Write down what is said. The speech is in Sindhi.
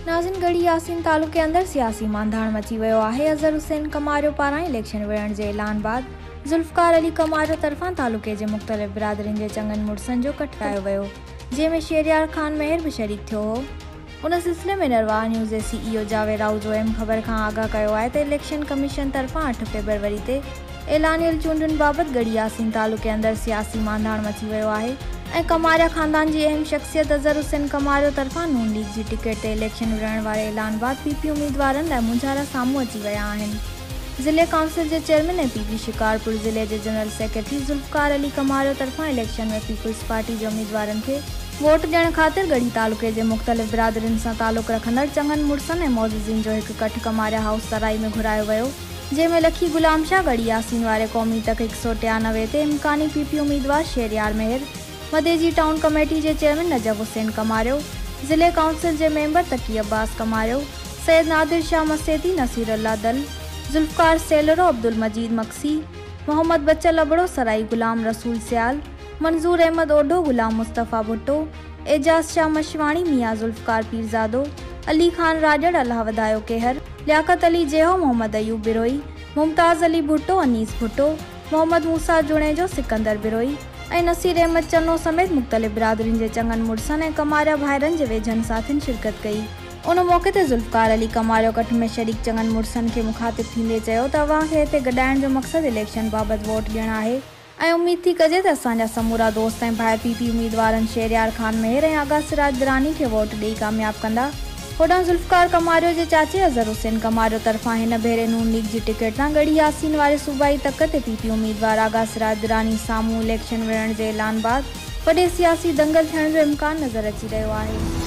ناظرين ڳڙهي ياسين تعلقي اندر سياسي مانڌاڻ مچي ويو آهي اظهر حسين ڪماريو پاران اليڪشن وڙهڻ جي اعلان بعد ذوالفقار علي ڪماريو طرفان تعلقي جي مختلف برادرين جي چڱن مڙسن جو ڪٺ ڪرايو ويو جنهن ۾ شهريار خان مهر به شريڪ ٿيو هو. ان سلسلي ۾ نرواهه نيوز جي سي اي او جاويد آهوجو ايم خبر کان آگاهه ڪيو آهي ته اليڪشن ڪميشن طرفان اٺ فيبروري تي اعلانيل چونڊن بابت ڳڙهي ياسين تعلقي اندر سياسي مانڌاڻ مچي ويو آهي ۽ ڪماريا خاندان جي اهم شخصيت اظهر حسين ڪماريو طرفان نون ليگ جي ٽڪيٽ تي اليڪشن وڙهائڻ واري اعلان بعد پي پي اميدوارن لاء مونجهارا سامهون اچي ويا آهن. ضلعي ڪائونسل جي چيئرمين ۽ پي پي شڪارپور ضلعي جي جنرل سيڪريٽري ذوالفقار علي ڪماريو طرفان اليڪشن ۾ پيپلز پارٽي جي اميدوارن کي ووٽ ڏيڻ خاطر ڳڙهي تعلقي جي مختلف برادرين سان تعلق رکندڙ چڱن مڙسن ۽ معززين جو هڪ ڪٺ ڪماريا هائوس سرائي ۾ گهرايو ويو جنهن ۾ لکي غلام شاهه ڳڙهي ياسين واري قومي تڪ هڪ سؤ ٽيانوي تي امڪاني پي پي اميدوار شهريار مهر مدي جي ٽائون ڪميٽي جي چيئرمين نجف حسين ڪماريو، ضلعي ڪائونسل جي ميمبر تقي عباس ڪماريو، سيد نادر شاهه مسيتي، نصير الله دل، ذوالفقار سيلرو، عبدالمجيد مگسي، محمد بچل ابڙو سرائي، غلام رسول سيال، منظور احمد اوڍو، غلام مصطفيٰ ڀٽو، اعجاز شاهه مشواڻي، ميان ذوالفقار پيرزادو، علي خان راڄڙ، الله وڌايو ڪيهر، لياقت علي جيهو، محمد ايوب بروهي، ممتاز علي ڀٽو، انيس ڀٽو، محمد موسيٰ جوڻيجو، سڪندر بروهي، ۽ نصير احمد چنو سميت مختلف برادرين جي چڱن مڙسن ۽ ڪماريا ڀائرن جي ويجهن ساٿين شرڪت ڪئي. ان موقعي تي ذوالفقار علي ڪماريو ڪٺ ۾ شريڪ چڱن مڙسن کي مخاطب ٿيندي چيو ته اوهان کي هتي گڏائڻ جو مقصد اليڪشن بابت ووٽ ڏيڻ آهي ۽ اميد ٿي ڪجي ته اسان جا سمورا دوست ۽ ڀائر پي پي اميدوارن شهريار خان مهر ۽ آغا سراج دراني کي ووٽ ڏئي ڪامياب ڪندا. هوڏانهن ذوالفقار ڪماريو جي چاچي اظهر حسين ڪماريو طرفان هن ڀيري نون ليگ جي ٽڪيٽ تان ڳڙهي ياسين واري صوبائي تڪ تي پي پي اميدوار آغا سراج دراني سامهون اليڪشن وڙهڻ جي اعلان بعد وڏي سياسي دنگل ٿيڻ جو امڪان نظر اچي رهيو آهي.